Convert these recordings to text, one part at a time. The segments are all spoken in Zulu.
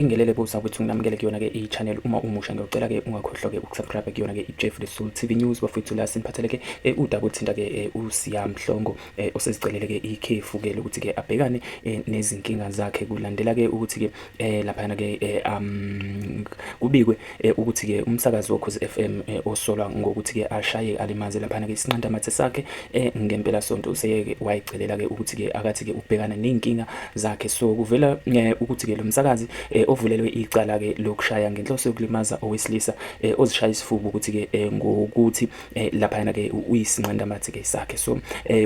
Ingelele bo sakwethu nginamukele kuyona ke i channel uma umusha ngiyocela ke ungakhohlwa ke ukusubscribe kuyona ke i Jeff the Soul TV News bafethu la siniphathele ke eh, udaba uthinta ke eh, uSiya Mhlongo eh, osezicelele ke ikhefu ke lokuthi ke abhekane nezinkinga zakhe kulandela ke ukuthi ke lapha ke um kubikwe Eh, ukuthi-ke umsakazi wokhozi FM eh, osolwa ngokuthi-ke ashaye alimaze laphana-ke isinqandamathe sakhe eh, ngempelasonto useyeke wayicelela-ke ukuthi-ke akathi-ke ukubhekana ney'nkinga zakhe so kuvela ukuthi-ke lo msakazi ovulelwe icala-ke lokushaya ngenhloso yokulimaza owesilisa ozishaya isifuba ukuthi-ke ngokuthi laphayana-ke uyisinqandamathe-ke sakhe so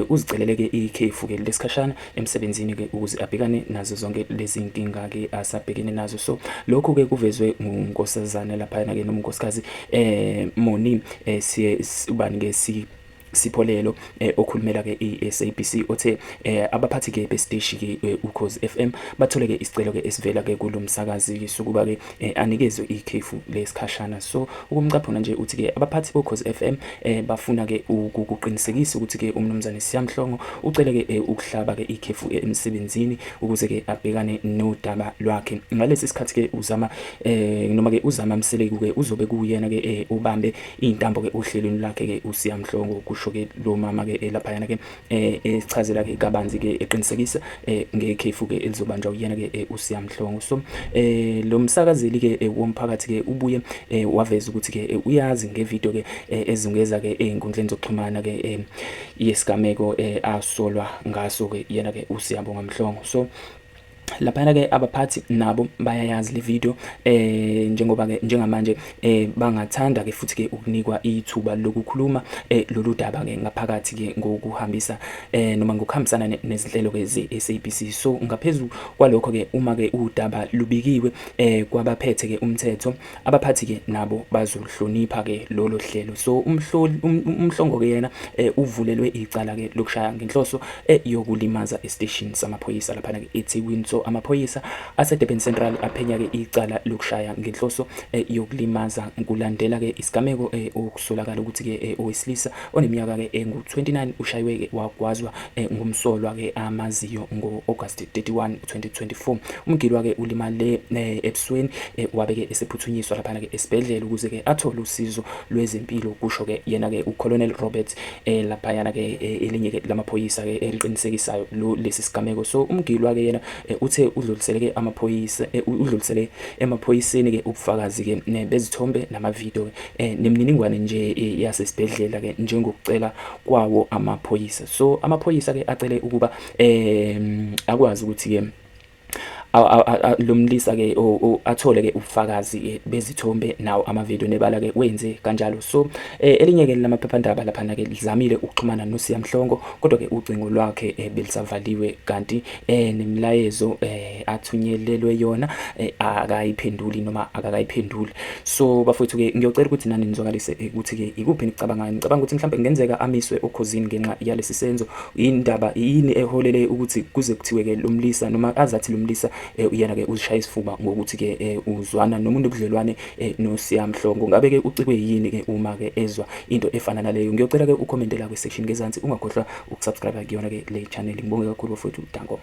uzicelele-ke ikhefu-ke lesikhashana emsebenzini ke ukuze abhekane nazo zonke lezi nkinga ke asabhekene nazo so lokho ke kuvezwe ngunkosazana laphayana ke noma unkosikazi eh Moni eh siye ubani ke si Sipholelo eh, okhulumela ke iSABC othe eh, abaphathi ke besiteshi ke eh, uKhozi FM bathole ke isicelo ke esivela ke kulomsakazi sokuba ke eh, anikezwe ikhefu lesikhashana so ukumcaphuna nje uthi ke abaphathi bokhozi FM eh, bafuna ke ukuqinisekisa ukuthi ke umnumzane Siyamhlongo ucele ke eh, ukuhlaba ke ikhefu eh, emsebenzini ukuze ke abhekane nodaba lwakhe ngalesi sikhathi ke uzama eh, noma ke uzama mseleku ke uzobe kuyena ke eh, ubambe intambo ke ohlelweni lakhe ke uSiyamhlongo kusho ke lo mama ke eh, lapha yana ke eh esichazela ke kabanzi ke eqinisekisa eh ngekhefu ke elizobanjwa uyena ke eh, uSiya Mhlongo so eh lo msakazeli ke eh, womphakathi ke ubuye eh, waveza ukuthi ke eh, uyazi ngevideo ke eh, ezungeza ke ezinkundleni eh, zokuxhumana ke eh, yesigameko eh, asolwa ngaso ke yena ke uSiyabonga Mhlongo so laphana ke abaphathi nabo bayayazi le video eh njengoba ke njengamanje eh bangathanda ke futhi ke ukunikwa ithuba lokukhuluma eh lolu daba ke ngaphakathi ke ngokuhambisa eh noma ngokuhambisana nezinhlelo ke ze SABC so ngaphezulu kwalokho ke uma ke udaba lubikiwe eh kwabaphethe ke umthetho abaphathi ke nabo bazoluhlonipha ke lolo hlelo so umhloli um, um, umhlongo ke yena eh, uvulelwe icala ke lokushaya ngenhloso eh, yokulimaza estation samaphoyisa lapha ke eThekwini so amaphoyisa aseDurban Central aphenya ke icala lokushaya ngenhloso eh, yokulimaza kulandela ke isigameko eh, okusolakala ukuthi ke eh, owesilisa oneminyaka ke engu-29 ushaywe ke wagwazwa eh, ngumsolwa ke amaziyo ngo-August 31 2024 umgilwa ke ulimale eh, ebusweni eh, wabe ke esephuthunyiswa lapha ke esibhedlela ukuze ke athole usizo lwezempilo kusho ke yena ke uColonel Robert eh, lapha yana ke elinye ke lamaphoyisa ke eliqinisekisayo lo lesi sigameko so umgilwa ke yena uthe udlulisele ke amaphoyisa udlulisele emaphoyiseni ke ubufakazi ke bezithombe namavideo nemininingwane nje yasesibhedlela ke njengokucela kwawo amaphoyisa so amaphoyisa ke acele ukuba um akwazi ukuthi-ke lo mlisa-ke athole-ke ubufakazi-ke bezithombe nawo amavidiyo nebala-ke wenze kanjalo so um elinye-ke lamaphephandaba laphana-ke lizamile ukuxhumana nosiya mhlongo kodwa-ke ucingo lwakhe um belisavaliwe kanti um nemilayezo um athunyelelwe yona um akayiphenduli noma akakayiphenduli so bafowethu-ke ngiyocela ukuthi nani nizwakalise ukuthi-ke ikuphi enikucabangayo nicabanga ukuthi mhlawumbe kungenzeka amiswe okhozini ngenxa yalesi senzo yini ndaba yini eholele ukuthi kuze kuthiwe ke lo mlisa noma azathi lo mlisa eh, uyena ke uzishaya isifuba ngokuthi ke eh, uzwana nomuntu obudlelwane eh, nosiyamhlongo ngabe ke ucikwe yini ke uma ke ezwa into efana naleyo ngiyocela ke ucommente la kwi-section ngezansi ungakhohlwa ukusubscribe kuyona ke le channel ngibonge kakhulu bafowethu Dankoma